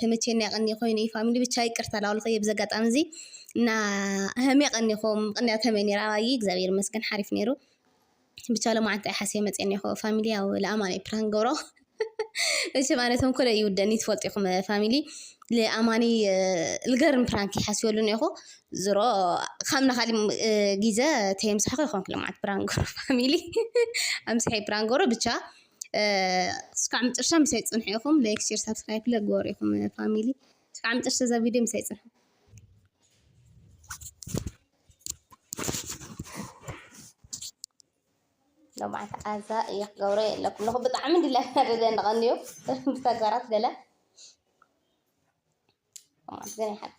ተመችየኒ ኣቀንየ ኮይኑ እዩ ፋሚሊ ብቻ ይቅርታ ላበልኩ እየ ብዚ ኣጋጣሚ እዚ እና ሃምየ ቀንየኩም ምቅንያት ሃምየ ነይረ ኣባይ እግዚኣብሔር ይመስገን ሓሪፍ ነይሩ ብቻ ሎማዓንቲ ኣይ ሓስየ መፅየ እኒሀኩ ፋሚሊ ያው ልኣማን እየ ፕራንክ ዝገብሮ መቸም ኣነ ተንኮለ ይውደኒ ትፈልጡ ኢኩም ፋሚሊ ልኣማኒ ልገርም ፕራንክ እየ ሓስበሉ እኒሀኩ ዝሮ ካብና ካሊእ ግዘ ተየምሳሕኩ ኣይኮንኩ ሎማዓንቲ ፕራንክ ዝገብሮ ፋሚሊ ኣምሲሐ እየ ፕራንክ ዝገብሮ ብቻ እስካዕ ምጭርሻ ምሳይ ፅንሑ ኢኩም ላይክ ሼር ሳብስክራይብ ለ ግበሩ ኢኩም ፋሚሊ እስካዕ ምጭርሻ እዛ ቪድዮ ምሳይ ፅንሑ ለማዓት ኣዛ እየ ክገብሮ የለኩም ለኹ ብጣዕሚ ድላ ደደ ንቐንዩ ብተግባራት ገለ ማለት ግን ይሓቂ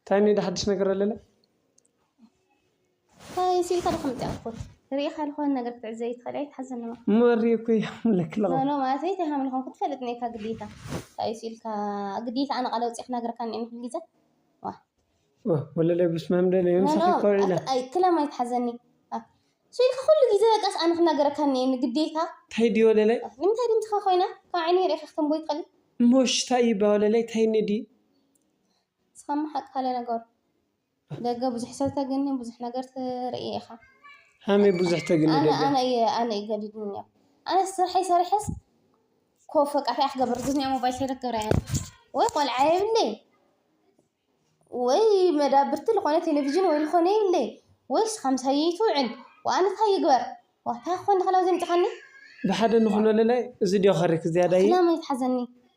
እንታይ እኒኦ ዶ ሓድሽ ነገር ኣለለ? እንታይ እሲ ኢልካ ዶ ከምትኣኩት ርኢኻ ዝኾነ ነገር ክትዕዘ ይትኸእል ኣይትሓዘኒ እሞ እሞ ሪእኩ ይሓምለክ ኣለኹ ኖኖ ማለት እይ ተሃምል ኾንኩ ትፈልጥ ነካ ግዴታ እንታይ እሲ ኢልካ ግዴታ ኣነ ቃለ ውፅእ ክነግረካ እኒኦ ንኩል ግዜ ዋ ኦ፣ ወለላይ ብስመ ኣብ ደለ ኖኖ ምሳኺ ኮር ኢለ ኣይ ክላም ኣይትሓዘኒ ኣ፣ እሱ ኢልካ ኩሉ ግዜ በቃስ ኣነ ክነግረካ እኒኦ ግዴታ እንታይ ድዩ ወለላይ ንምንታይ ድምፅኻ ኮይና ካብ ዓይነይ ርኢኻ ክትንቦ ይትኸእል እሞ ሽታ እዩ ባ ወለላይ እንታይ እኒኦ ድዩ ንስኻ እሞ ሓቃለ ነገሩ ደገ ብዙሕ ሰብ ተግኒ ብዙሕ ነገር ትርኢ ኢኻ። ሃመይ ብዙሕ ተግኒ ኣነ ደገ ኣነ እየ ኣነ እዩ ገዲድኒ እኒኦ ኣነ ስርሐይ ሰሪሐስ ኮፍ በቃ እንታይ ክገብር ግዝኒኣ ሞባይል ሰይረ ክገብር እየ ወይ ቆልዓ የብለይ ወይ መዳብርቲ ዝኾነ ቴሌቪዥን ወይ ዝኾነ የብለይ ወይ ንስኻ ምሳይ ይትውዕል ወኣነ እንታይ ይግበር ዋ እንታይ ክኾን ንኽእል ኣብዚ ኣምፂኻኒ ብሓደ ንኹነለላይ እዚ ድዮ ከሪክ ዝያዳይ ሕልና መን ይትሓዘኒ።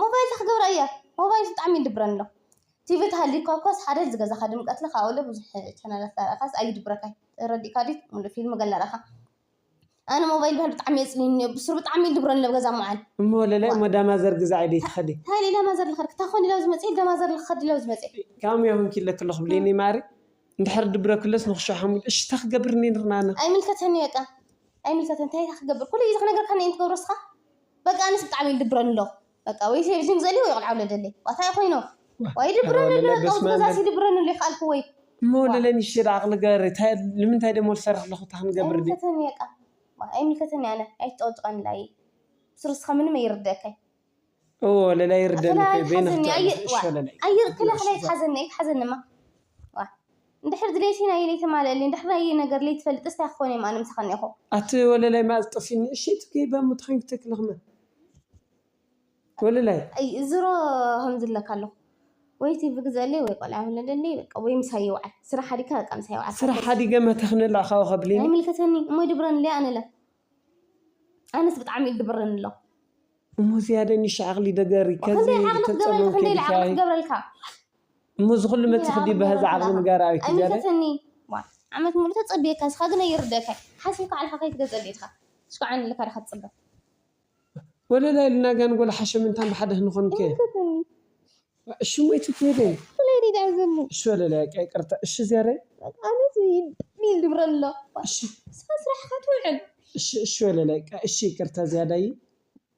ሞባይል ታይ ክገብራ እየ ሞባይል ብጣዕሚ ይድብረኒ ኣሎ ቲቪ ተሃልዩካ እኳስ ሓደ ዝገዛካ ድምቀት እለ ካብኡ እለ ብዙሕ ቻነላት ዳርኣካስ ኣይድብረካይ ተረዲእካ ድዩ ሙሉእ ፊልሚ ገለ ዳርኣካ ኣነ ሞባይል ብሃሊ ብጣዕሚ የፅልለኒ እዮ ብሱሩ ብጣዕሚ ይድብረኒ እሎ ኣብ ገዛ ምውዓል እሞ ወለለ እሞ ዳማ ዘር ግዛዒ ደይ ትኸዲ ታይ ኢለ ዳማ ዘር ልኸድ ክታ ኮን ኢለ ኣብዚ መፅየ ዳማ ዘር ልኸድ ኢለ ኣብዚ መፅየ ካም እዮ ኮንኪ ኢለኪ ኣለኹ ብሌነይ ማሪ እንድሕር ድብረኪ እሎስ ንክሾ ሓሙል እሺ ታይ ክገብር እኒ ንርናና ኣይምልከተኒ በቃ ኣይምልከተኒ ታይ ታይ ክገብር ኩሉ ግዜ ክነግረካኒ እየ ትገብሮ እስኻ። በቃ ኣነስ ብጣዕሚ ይድብረኒ ኣሎ በቃ ወይ ሴቭ ዚም ዘሊ ወይ ቆልዓ ውለድ ደሊ ዋታይ ኮይኖ ዋይ ይድብረኒ ኣሎ በቃ ውስጥ ገዛሲ ይድብረኒ ኣሎ ይካልኩ ወይ እሞ ለለኒ ሽድ ዓቅሊ ገሪ ታይ ንምንታይ ደሞ ልሰርሕ ኣለኩ እታ ክንገብር ዲ ኣይምልከተኒ በቃ ኣይምልከተኒ ኣነ ኣይትጨቅጭቀኒ ላይይ ብስሩ ንስካ ምንም ኣይርደእካይ እዎ ለላይ ይርደኒ ክላ እኮ በይነ ኣይትሓዘኒ ክትዕርፍ እሺ ወለላይ ኣይክላ ክላ ኣይትሓዘኒ ኣይትሓዘኒ እማ እንድሕር ድሌትይ ናይይ ለይተማለኣልይ እንድሕር ናይይ ነገር ለይትፈልጥስ ታይ ክኾን እየ እም ኣነ ምሳኻ እኒኣኹ። ኣቲ ወለላይ ማኣዝ ጠፊኒ እሺ እቲ ገይባ እሞ ተኸንኪ ተክሊ ክመ ወለላይ። ኣይ ዝሮ ከምዚ እብለካ ኣለኹ ወይ ቲቪ ግዘኣለይ ወይ ቆልዓ ውለደለይ በቃ ወይ ምሳይ ይውዓል ስራሕ ሓዲግካ በቃ ምሳይ ውዓል ስራሕ ሓደሰ። ሓዲገ እመ ተኽኒ እለ ኣኻዊ ከብሊኒ። ኣይምልከተኒ እሞ ይድብረኒ እለ ኣነ እለ ኣነስ ብጣዕሚ እዩ ድብረኒ እሎ። እሞ ዝያደ ኒሽ ዓቅሊ ደገሪ ከዚ ክንደይ ዓቅሊ ክገብረልካ ክንደይ ኢለ ዓቅሊ ተፀመምኪ ድኪ ክገብረልካ። እሞ እዚ ኩሉ መጺኪ ድዩ በሀዛ ዓቅሊ ንገራ ኣበይ ትጀረ። ኣይምልከተኒ ዋእ ዓመት ሙሉእ ተጸብየካ ንስካ ግን ኣይርደኣካይ ሓሲብካ ዓልካ ከይትገዝእ ዲካ ሽኳዓኒ ኢልካ ዲካ ትጽበ። ወለላይ ኢልና ጋንጎል ሓሸምንታን ብሓደ ክንኮን ከ። ኣይምልከተኒ እሺ እሞ ኢቲ ከይደ። ብለይ ዲዩ ዝዓዘኒ እሺ ወለላይ በቃ ይቅርታ እሺ ዚያዳይ። በቃ ኣነስ ዲል ድብረ ኣሎ እሺ ንስካ ስራሕካ ትውዕል። እሺ እሺ ወለላይ በቃ እሺ ይቅርታ ዚያዳይ።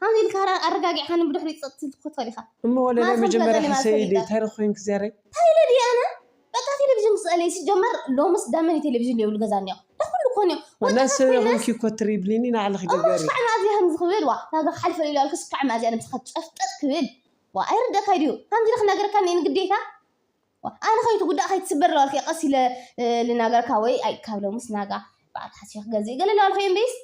ከምዚ ኢልካ ኣረጋጊዕካኒ ብድሕሪኡ ጸጥ ክትብል ኢኻ። እሞ ወለላይ መጀመርያ ሕሰይ ድዩ ታይ ረኪብንኪ ዘረይ። ታይ ኢለ ድየ ኣነ በቃ ቴለቪዥን ምስ ጸለየ ሲጀመር ሎምስ ዳመን ኢዩ ቴለቪዥን ዘይብሉ ገዛ እንዮ ዳኣ ኩሉ ኮን ኢዩ ወጣታት ኮይነስ ናይ ሰበይ ኮንኪ እኮ ትሪብሊኒ ናዕልኪ እሞ ግበሪ። ሽካዕ መኣዝያ ከምዚ ክብል ዋእ ናብራ ክሓልፍ ኣልኢሉ ኣልኩ ሽካዕ መኣዝያ ነብስካ ጨፍጠጥ ክብል ዋእ ኣይርደኣካይ ድዩ ከምዚ ኢለ ክናገረካ እኒኤኒ ግዴታ ዋእ ኣነ ከይትጉዳእ ከይትስበር ኢለ ኣልኩ ቀስ ኢለ ልናገረካ ወይ ኣይ ካብ ሎምስ ናጋ በዓል ሓሲበ ክገዝእ ኢዩ ገለ ኢለ ኣልኩ እምበይስ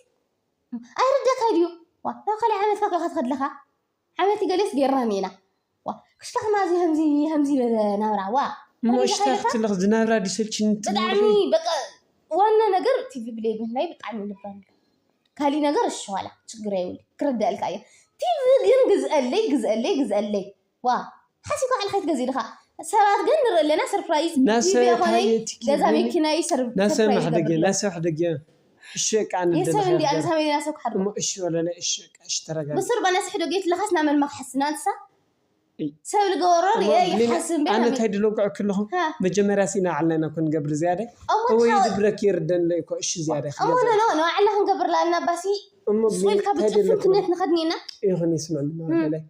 ኣይርደካይ ድዩ ዋእ ናብ ካልእ ዓመት ፋሕ ኢልካ ትከድ ኣለካ ዓመት ገሌስ ጌርናም ኢና ዋእ ክሽታክ ማዚ ከምዚ ከምዚ በለ ናብራ ዋእ እሞ ሽታ ክትልኽ ዝናብራ ድዩ ሰልችኒ ትብሊ ብጣዕሚ ኣለኺ? በቃ ዋና ነገር ቲቪ ብለይ ምህላይ ብጣዕሚ ይልበኒ ካሊእ ነገር እሺ ዋላ ችግር የብሉን ክርደኣልካ እየ ቲቪ ግን ግዝኣለይ ግዝኣለይ ግዝኣለይ ዋእ ሓሲብካ ባዕልካ ኣይትገዝእ ድካ ሰባት ግን ንርኢ ኣለና ሰርፕራይዝ ቲቪ ኣይኮነይ ገዛ መኪና ዩ ሰርፕራይዝ ዝገብርለይ የሰብ እንድያ ንሳ መሊኣ ሰብ ክሓድሮ ብሱር በለስ ሕዶ ጌት ለካስ ናብ መን መክሐሲ ናትሳ ሰብ ልገበሮ ሪኤ ይሓስብ እምበር ኣነ ታይ ድለጉዐ ክለኩ መጀመርያ ሲ ናባዕልና ኢና እኮ ንገብር ዝያዳይ እወ ይድብረኪ ይርደንለይ እኮ እሺ ዝያዳይ እሞ ኖኖ ናባዕልና ክንገብር ኣለና ባሲ ስቁኢልካ ብጭፍን ክንደት ንከድኒ ኢና ይኩን ይስምዕልና በላይ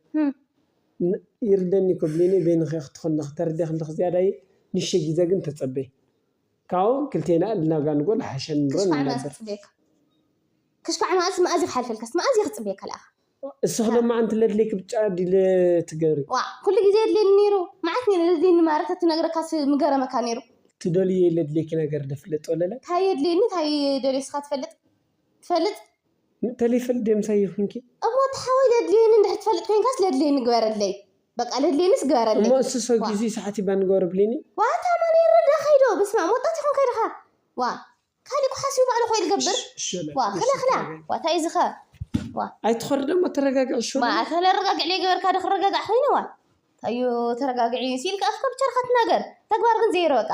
ን ይርደኒ ክብሊኒ በይንኺ ክትኹኒ ክተርዲ ክንድኺ ዝያዳ እየ ንእሽተይ ጊዘ ግን ተጸበይ ካብኡ ክልቴና እልና ጋንጎ ልሓሸ ንሮ ንነብር። ክሽካዕ መኣዝ መኣዝ እዩ ክሓልፈልካስ መኣዝ እየ ክጽበየካ ለኣኻ። እስኺ ደማ ኣንቲ ለድልየኪ ብጫ ዲለ ትገብሪ። ዋእ ኩሉ ግዜ የድልየኒ ነይሩ መዓት ነይሩ ለድልየኒ ማራ ተትነግረካስ ምገረመካ ነይሩ። ትደልይዮ ለድልየኪ ነገር ዶ ፍለጥ ወለለ። ታይ የድልየኒ ታይ ደልየ እስኻ ትፈልጥ ትፈልጥ። ምእተሊፍል ደምሳይ ይኹንኪ። እሞ እቲ ሓወይ ለድልየኒ እንድሕር ትፈልጥ ኮይንካስ ለድልየኒ ግበረለይ በቃ ለድልየኒስ ግበረለይ። እሞ እስሶ ጊዚ ሰዓቲ ባኒ ግበሮ ብሊኒ። ዋእ ኣታ ኣማን የረዳ ከይዶ በስማኣም ወጣት ኢኹም ከይድኻ ዋእ ካሊእ እኮ ሓሲቡ ባዕሉ እኮ እዩ ልገብር ዋእ ክላ ክላ ዋእ ታይ እዩ ዝኸ ዋእ ኣይትኾሪ ደሞ ተረጋግዒ ሹሩ። ዋእ ኣታ ለረጋግዕ ለይገበርካ ዶ ክረጋጋዕ ኮይነ ዋእ ታይ እዩ ተረጋግዒ ሲኢልካ ኣፍካ ብቻ ድኻ ትናገር ተግባር ግን ዜሮ በቃ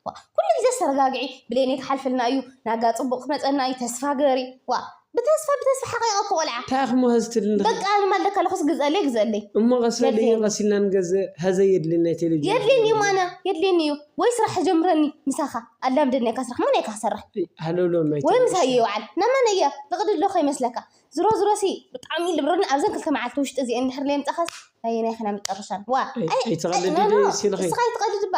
ዋእ ኩሉ ግዜስ ተረጋግዒ ብሌነይ ክሓልፍልና እዩ ናጋ ጽቡቅ ክመጸና እዩ ተስፋ ግበሪ ዋእ ብተስፋ ብተስፋ ሓቂቀኪ ቆልዓ ታይ ኣኽሞ ሀዝ ትድሊ በቃ ኣነ ማልደ ከለኩስ ግዝኣለይ ግዝኣለይ እሞ ቀስበሊ የድልየኒ ቀሲናን ገዘ ሀዘ የድሊ ናይ ቴሌቪዥን የድልየኒ እዩ ማነ የድልየኒ እዩ ወይ ስራሕ ጀምረኒ ምሳካ ኣላምደኒካ ስራሕ መን እካ ክሰርሕ ሃለውለው ናይ ወይ ምስ ቴሌቪዥን ሃየ ይውዓል ናብ መን እየ ንቅዲ ዶ ከይመስለካ ዝሮ ዝሮ ሲ ብጣዕሚ ልብርኒ ኣብዘን ክልተ መዓልቲ ውሽጢ እዚኤን እንድሕር ለየምጻካስ ናየናይ ከና መጨረሻን ዋእ ኣይ ኣይትቀልዲ ኖ ኖ ዶ ሲልኺ ንስካ ኣይትቀልድ እባ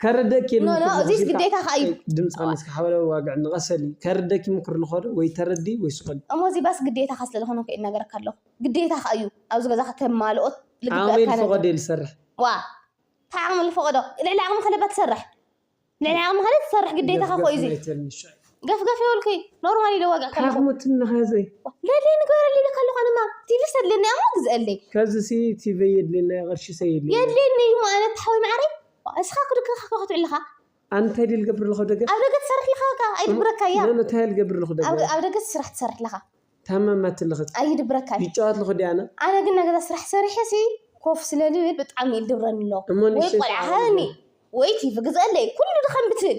ከርደኪ ኖ ኖ ምክር እዚስ ዝሃብሽካ ግዴታኻ እዩ። ጸይቅ ድምጽ ቀኒስኪ ሓበለ ዋግዕ ንቀሰሊ ከርደኪ ምክር ንኸዶ ወይ ተረዲ ወይ ስቀሊ። እሞ እዚ ባስ ግዴታኻ ስለ ዝኾነ እኮ እየ እናገረካ ኣለኹ ግዴታኻ እዩ ኣብዚ ገዛ ከተማልኦ ዓቅመይ ልግበኣካ ነገር ልፈቀዶ እየ ልሰርሕ። ዋእ ታይ ዓቅሚ ልፈቀዶ ልዕሊ ዓቅምኻ ለባ ትሰርሕ ልዕሊ ዓቅምኻ ለትሰርሕ ግዴታኻ እኮ እዩ ደፍደፍ እዚ። ናይ ተርሚስ ሻይ። ገፍ ገፍ ይበልኩ ኖርማል ኢለ ዋግዕ ከለኹ ሓኽሙ ትምኒ ኸዚ ለለይ ንገረለይ ኢለካ ኣለኹ ኣነማ ቲቪስ ኣድለኒ ኣሞ ግዝአለይ ከዚ ሲ ቲቨይ የድልየና ቅርሺ ሰ የድልየና የድልየኒ እዩ እሞ ኣነ ተሓወይ ማዓረይ እስኻ ክድካ ካካ ክትውዕል ለኻ ኣነ እንታይ ድየ ልገብር ለኹ ደገ ኣብ ደገ ትሰርሕ ለኻ ከኣ ኣይድብረካ እያ ኖኖ እንታይ ልገብር ለኹ ደገ ኣብ ኣብ ደገ ስራሕ ትሰርሕ ለኻ ታመማት ለኽት ኣይድብረካ እዩ ይጫወት ለኹ ድየ ኣነ ኣነ ግን ናይ ገዛ ስራሕ ሰሪሐ ሲ ኮፍ ስለሊ ይብል ብጣዕሚ ይድብረኒ ኣሎ እሞ ወይ ንእሽተይ ቆልዓ ሰዓት ሃበኒ ወይ ቲቪ ግዝአለይ ኩሉ ድኻም ብትብል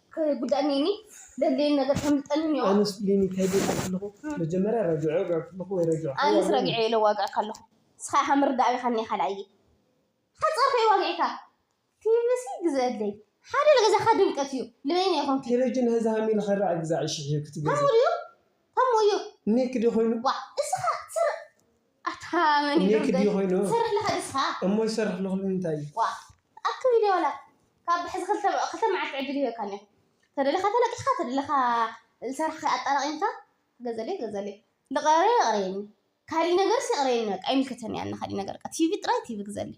ከየጉድኣኒ እኒ ዘድልየኒ ነገር ከምልጠኒ እኒኦ። ኣነስ ብሌኒ ታይ ዶ ኢልካ ከለኹ መጀመርያ ረጅዖ ወጊዐ ከለኹ ወይ ረጅዖ ሓው ኣነስ ኣበለኒ። ረጊዐ ኢለ ዋግዐ ካለኹ ንስኻ ኢኻ ምርዳእ ኣቢኻ እኒኤ ካልኣየ ሓፃር ከይ ዋግዒካ ትይብሲ ግዘ ኣድለይ ሓደ ንገዛኻ ድምቀት እዩ ልበይኒ ኣይኮንኩ ቴለጅን ሀዚ ሃም ኢልኻ ራዕ ግዛዕ እሺ ሕዩ ክትገዝእ ሃሙ ድዩ ሃሙ እዩ እኔክዲ ኾይኑ ዋእ እስኻ ስር ኣታ መን እዩ እኔኪ ድዩ ዶርገይ ኮይኑ ትሰርሕ ለካ ንስካ እሞ ዝሰርሕ ኣለኩ ንምንታይ እዩ ዋእ ኣክ ቪድዮ ዋላ ካብ ሕዚ ክልተ ክልተ መዓልቲ ዕድል ይህበካ እኒኦ ተደሊካ ተለቂሕካ ተደሊካ ዝሰራሕካዮ ኣጣራቂምካ ገዘለይ ገዘለይ ልቅረረይ የቅረየኒ ካሊእ ነገርስ የቅረየኒ በቃ ኣይምልከተኒ ኣነ ካሊእ ነገር በቃ ቲቪ ጥራይ ቲቪ ግዘለይ።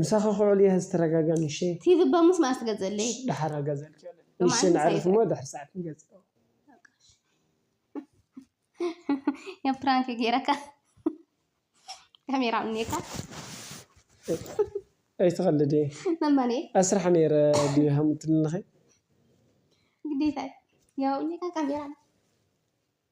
ምሳኺ ክውዕል እየ ሐዚ ተረጋግያ ንእሸተይ። ቲቪ በሙስ መኣስ ትገዝእለይ? ደሓር ኣገዝኣልኪ ኣለይ ንእሽተይ ነዕርፍ እሞ ድሕሪ ሰዓት ንገዝእ። ያ ፕራንክ ገይረካ ካሜራ እኒካ ኣይትቀልዲ መማኔ ኣስራሕ ነይረ ድዩ ሃምትልንኺ ግዴታ እዩ ያው እኒካ ካሜራ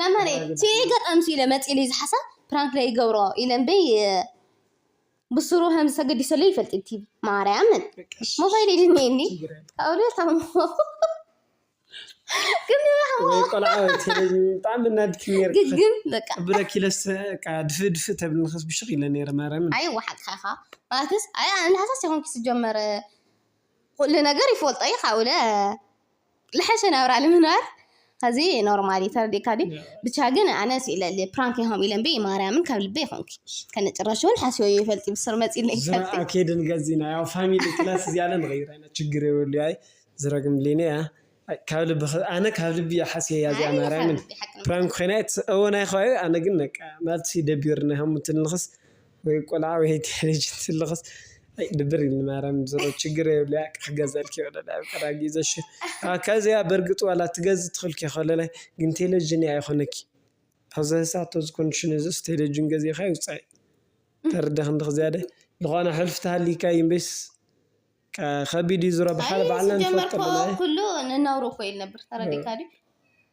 መምህር ሲዒ ገጠም ሲለ መፂሉ እዩ ዝሓሳ ፕራንክ ዶ ይገብሮ ኢለ እምበይ ብስሩ ከም ዝተገዲሰሉ ይፈልጥ ቲቪ ማርያምን ሞባይል ይድንየኒ ካብሉ ታሞ ብጣዕሚ ናድኪ ግግም በቃ ብለኪ ለስ ድፍ ድፍ ተብል ንክስ ብሽክ ኢለ ነረ ማርያምን ኣይ ወሓቅካ ኢኻ ማለትስ ኣይ ኣነ ሃሳስ ይኾንኪ ስጀመር ኩሉ ነገር ይፈልጦ እዩ ካብለ ልሐሸ ናብራ ንምንባር ኸዚ ኖርማል እዩ ተረዲእካ ድዩ ብቻ ግን ኣነ ስኢለ እየ ፕራንክ ኢኹም ኢለ እምበይ ማርያምን ካብ ልበ ይኹንኪ ከነጭራሽ እውን ሓስበዮ ይፈልጥ ብስር መፂለ ዝረኣ ኬድን ገዚና ያው ፋሚሊ ክላስ እዚኣ ለ ንቕይራ ኢና ችግር የብሉ ኣይ ዝረግም ሊነ እያ ኣይ፣ ካብ ልቢ ኸ- ኣነ ካብ ልቢ እያ ሓስየ እያ እዚኣ ማርያምን ፕራንክ ኮይና እየ ትስ- እወ ናይ ኸባቢ ኣነ ግን በቃ ናትሲ ደቢርና ሃሙትልንኽስ ወይ ቆልዓ ወይ ቴለቪዥን ዝልኽስ ኣይ ድብር ኢሉኒ ማርያም ዝሮ ችግር የብሉይ ኣይ ክገዝኣልኪ ይኽእል ኣይ ኣብ ቀረባ ግዜ እሺ ከዚኣ በርግጽ ዋላ ትገዝ ትኽልኪ ከለላይ ግን ቴለቪዥን እያ ኣይኾነኪ ኣብ ዝሕሳቶ ዝኮንሽን እዝስ ቴለቪዥን ገዚእኻ ይውጻኢ ተርዲእኺ እንድኺ ዝያደ ዝኾነ ሕልፊ ተሃሊካ እዩ እምበይስ ከቢድ እዩ ዝሮ ብሓደ ባዕልና ንፈልጦ ኣለና እይ። ኩሉ ንነብሩ እኮ እዩ ዝነብር ተረዲእካ ድዩ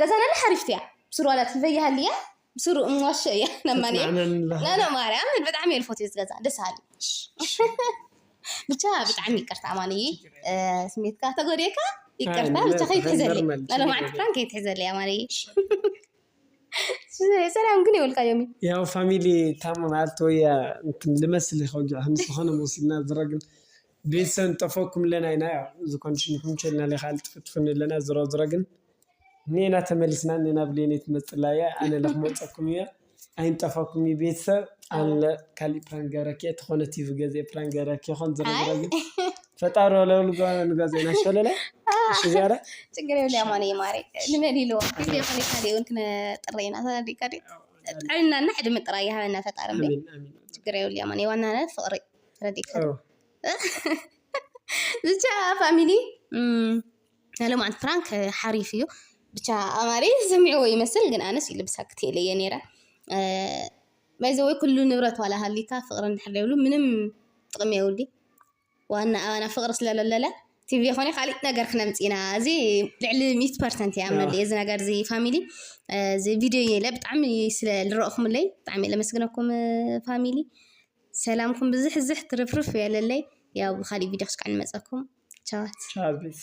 ገዛና ላ ሓሪፍቲ እያ ብስሩዋላ ትልበያ ሃልያ ብስሩ እምዋሸ እያ ነማን ናነ ማርያም ብጣዕሚ እየ ልፎት ዝገዛ ደስ ሃሊ ብቻ ብጣዕሚ ይቅርታ ኣማን እይ ስሜትካ ተጎዴካ ይቅርታ ብቻ ከይትሕዘለይ ናለ ማዓልቲ ፕራን ከይትሕዘለይ ኣማን እይ ሰላም ግን የብልካ ዮም ያው ፋሚሊ ታሞ ማለት ወይ ልመስል ከውጅዕ ከም ዝኾነ መሲልና ዝረግን ቤተሰብ ንጠፈኩም ኣለና ኢና ያው እዚ ኮንድሽን ይምቸልና ለካ ኣልጥፍጥፍኒ ኣለና ዝሮ ዝሮ ግን ኔና ተመሊስና እኔና ብሌኔ ትመጽላ እያ ኣነ ለ ክመጸኩም እየ ኣይንጠፈኩም እዩ ቤተሰብ ኣለ ካሊእ ፕራንክ ገረኪ እየ ተኾነ ቲቪ ገዜ ፕራንክ ገረኪ ይኾን ዝሮ ዝሮ ግን ፈጣሪ ወለውሉ ንገዜና ሸለለ እሺ ዚያረ ችግር የለ ያማነ የማረ ንበል ኢልዎ ጊዜ ኾነ ካሊእ እውን ክነጥረ ኢና ተረዲእካ ድዩ ጥዕናና ዕድመ ጥራይ ይሃበና ፈጣሪ እምበይ ችግር የብሉ ያማነ ዋናነት ፍቅሪ ብቻ ፋሚሊ ናይ ሎምዓንቲ ፕራንክ ሓሪፍ እዩ ብቻ ኣማረ ዝሰሚዕዎ ይመስል ግን ኣነስ ይልብሳክት ኢለ እየ ነይረ ባይ ዘ ወይ ኩሉ ንብረት ዋላ ሃሊካ ፍቅሪ እንድሕር ዘይብሉ ምንም ጥቅሚ የብሉን ዋና ኣባና ፍቅሪ ስለ ለለ ቲቪ ኮነ ካሊእ ነገር ክነምፅ ኢና እዚ ልዕሊ ሚእቲ ፐርሰንት ይኣምነሉ እየ እዚ ነገር እዚ ፋሚሊ እዚ ቪድዮ እየ ኢለ ብጣዕሚ ስለ ዝረእኩምለይ ብጣዕሚ እየ ለመስግነኩም ፋሚሊ ሰላምኩም ብዝሕዝሕ ትርፍርፍ ይበለለይ ያው ብካሊእ ቪድዮ ክስዕ ንመፀኩም ቻዋት። ቻው ፕሊስ።